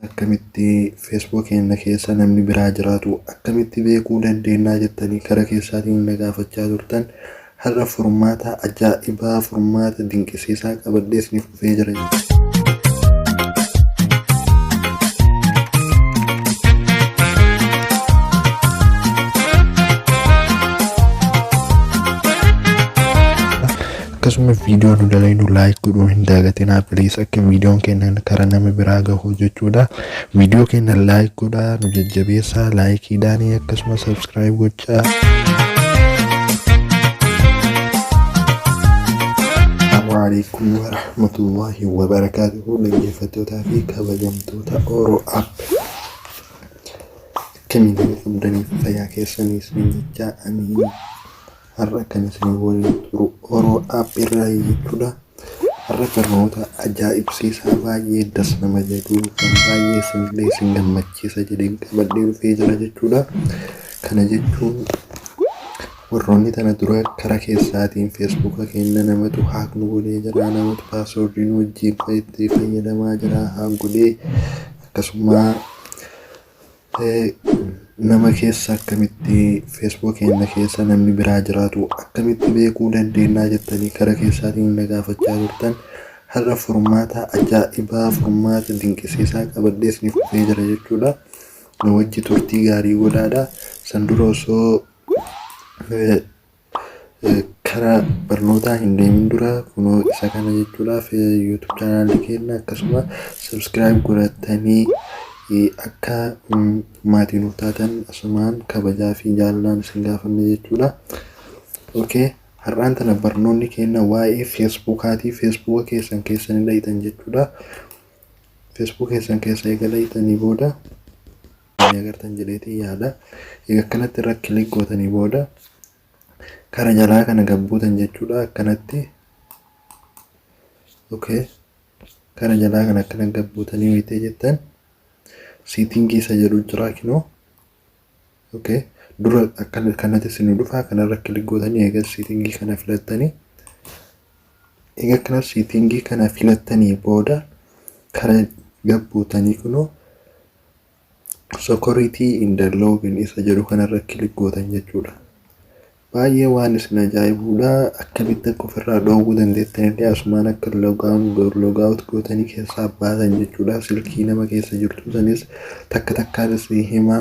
akkamitti Facebook keenya keessa namni biraa jiraatu akkamitti beekuu dandeennaa jettanii kara keessaatiin na gaafachaa turtan har'a furmaata ajaa'ibaa furmaata dinqisiisaa qabadhee isiniif dhufee jira. Akkasuma video nu dalaynu like godhuu hin daagatinaa please akka videon keennan kara nama biraa gahuu jechuudha. Video keennan like godhaa nu jajjabeessaa like daanii akkasuma subscribe gochaa. Assalamualaikum warahmatullahi wabarakatuh dhaggeeffattootaa fi kabajamtoota Oro App. Akkamiin qabdanii fayyaa keessaniis miidhachaa amiin. har'a kan isin waliin turu Oro App irraayi jechuudha. Har'a barnoota ajaa'ibsiisaa baay'ee das nama jedhu kan baay'ee isinillee isin gammachiisa jedheen qabadhee dhufee jira jechuudha. Kana jechuun warroonni tana dura karaa keessaatiin feesbuuka keenya namatu haak nu godhee jira namatu paaswoordii nu wajjin itti fayyadamaa jira haak godhee akkasuma Nama keessa akkamitti Facebook keenya keessa namni biraa jiraatu akkamitti beekuu dandeenya jettanii kara keessaatiin na gaafachaa turtan har'a furmaata ajaa'ibaa furmaata dinqisiisaa qabadhee isiniif dhufee jira jechuudha. Na wajji turtii gaarii godhaadha. San dura osoo Karaa barnootaa hin deemin dura kunoo isa kana jechuudhaaf YouTube chaanaalii keenya akkasuma subscribe godhattanii akka maatii nuuf taatan asumaan kabajaa fi jaalalaan isin gaafanne jechuudha. Okay. Har'aan tana barnoonni keenya waa'ee feesbuukaati. Feesbuuka keessan keessa ni dhaqxan jechuudha. Feesbuuka keessan keessa eega dhaqxanii booda ni agartan jedheetiin yaada. Egaa akkanatti irra kilik gootanii booda kara jalaa kana gabbuutan jechuudha akkanatti. Okay. Kara jalaa kana akkana gabbuutanii wayitee jettan siitingii isa jedhu jira kinoo. Okay. Dura akkana kanatti isin dhufa kanarra kilik gootanii egaa siitingii kana filattanii. Egaa akkana siitingii kana filattanii booda kara gabbuutanii kunoo Security in the login isa jedhu kanarra kilik gootan jechuudha. Baay'ee waan isin ajaa'ibuudha. Akkamitti akka ofirraa dhoowwuu dandeettan illee asumaan akka logaan logaawut gootanii keessaa baasan jechuudha. Silkii nama keessa jirtu sanis takka takkaan isin hima.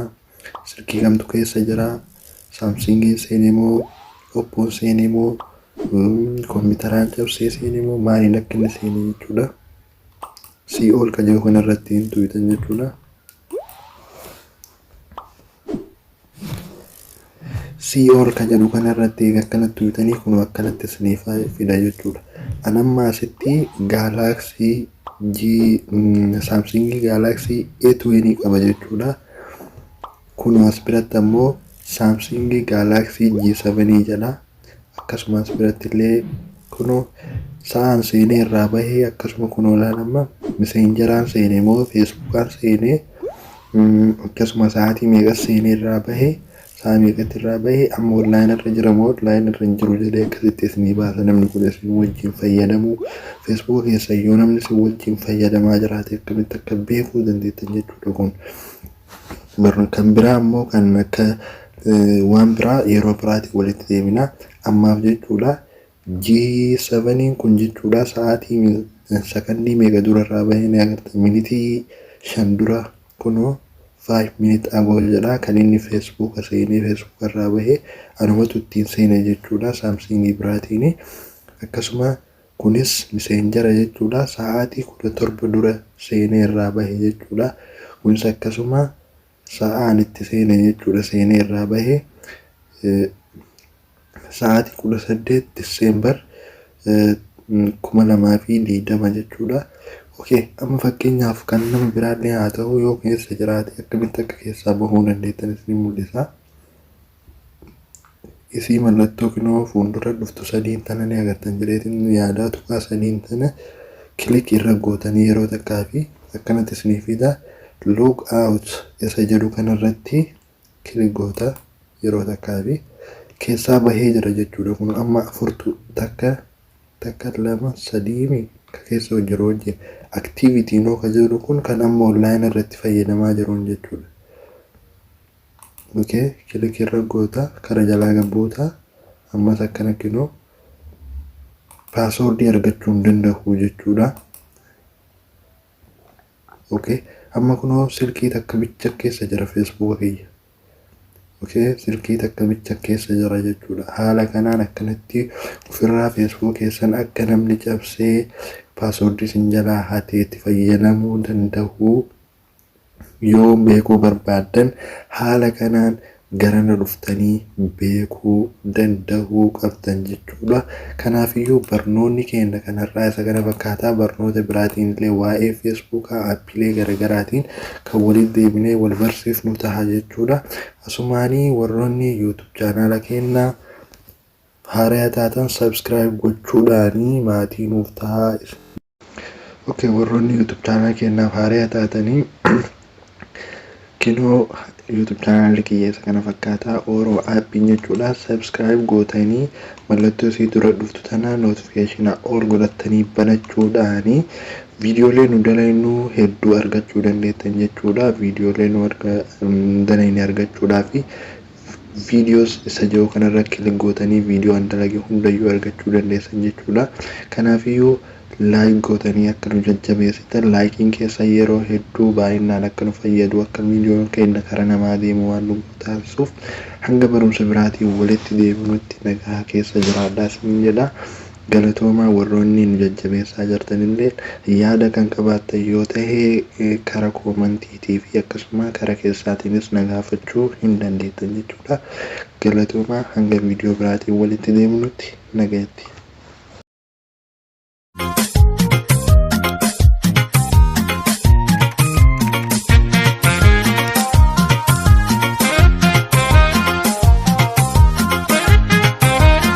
Silkii kamtu keessa jira. Saamsingiin seenee moo oppoon seenee moo kompiitaraan cabsee seenee moo maaliin akka inni seenee jechuudha. CO kan jedhu kana irratti hin tuwitan jechuudha. CO kan jedhu kana irratti egaa akkanatti tuwitanii kun akkanatti isiniif fida jechuudha. An amma asitti gaalaaksii G saamsingii gaalaaksii A20 qaba jechuudha. Kun as biratti ammoo saamsingii gaalaaksii G7 jedha. akkasumas biratti illee kunoo sa'aan seenee irraa bahee akkasuma kunoo laan amma miseenjaraan seenee moo feesbuukaan seenee akkasuma sa'aatii meeqas seenee irraa bahee sa'a meeqatti irraa bahee amma onlaayina irra jira moo onlaayina irra hin jiru jedhee akkasitti isinii baasa namni kun isin wajjin fayyadamuu feesbuuka keessa yoo namni isin wajjin fayyadamaa jiraate akkamitti akka beekuu dandeettan jechuudha kun. Kan biraa ammoo kan akka waan biraa yeroo biraatiin walitti deebina. Ammaaf jechuudha G7n kun jechuudha sa'aatii sakandii meeqa dura irraa bahee ni agartan minitii shan dura kunoo 5 minute ago jedha kan inni feesbuuka seenee feesbuuka irraa bahee anumatu ittiin seene jechuudha saamsiingii biraatiin akkasuma Kunis miseenjara jechuudha sa'aatii 17 dura seenee irraa bahe jechuudha. Kunis akkasuma sa'aan itti seene jechuudha seenee irraa bahe sa'aatii 18 December 2020 jechuudha. Okay, amma fakkeenyaaf kan nama biraallee haa ta'u yoo keessa jiraate akkamitti akka keessaa bahuu dandeettan isin mul'isa. isii mallattoo kinoo fuuldura dhuftu sadiin tana ni agartan jedheetiin nu yaadaa tuqaa sadiin tana kilik irra gootanii yeroo takkaa fi akkanatti isinii fida log out isa jedhu kanarratti kilik goota yeroo takkaa fi keessaa bahee jira jechuudha kun amma afurtu takka takka lama sadiimi ka keessa hojjiru hojji aktiivitii noo ka jedhu kun kan amma online irratti fayyadamaa jiruun jechuudha. ok kiliki irra goota kana jalaa gad buuta ammas akkana kinoo paaswoordii argachuu hin danda'u jechuudha ok amma kunoo silkii takka bicha keessa jira feesbuuka kiyya ok silkii takka bicha keessa jira jechuudha haala kanaan akkanatti ofirraa feesbuuka keessan akka namni cabsee paaswoordii isin jalaa hatee itti fayyadamuu danda'u Yoo beekuu barbaaddan haala kanaan garana dhuftanii beekuu, dandahuu, qabdan jechuudha. Kanaafiyyuu barnoonni keenna kan har'aa isa kana fakkaata. Barnoota biraatiinillee waa'ee Feesbuukaa, Aappiilee garagaraatiin kan walitti deebinee wal barsiifnu taha jechuudha. Asumaanii warroonni YouTube chaanaala keenna haaraya taatan subscribe gochuudhaanii maatii nuuf tahaa. Okay warroonni YouTube channel keenyaaf haaraa taatanii kinoo YouTube channel kiyyeessa kana fakkaataa Oro app jechuudha subscribe gootanii mallattoo isii dura dhuftu tana notification all godhattanii banachuudhaani viidiyoolee nu dalaynuu hedduu argachuu dandeettan jechuudha viidiyoolee nu arga dalayne argachuudhaa fi videos isa jedhu kanarra click gootanii video an dalage hundayyuu argachuu dandeessan jechuudha. Kanaafiyyuu like gootanii akka nu jajjabeessitan like'n keessan yeroo hedduu baay'innaan akka nu fayyadu akka videon keenna kara namaa deemu waan nu godhu taasisuuf hanga barumsa biraatiin walitti deebinutti nagaha keessa jiraadhaa isiniin jedha. Galatoomaa warroonni nu jajjabeessaa jirtanilleen yaada kan qabaattan yoo tahe kara koomantiitii fi akkasuma kara keessaatiinis na gaafachuu hin dandeettan jechuudha. Galatoomaa hanga viidiyoo biraatiin walitti deebinutti nagayatti.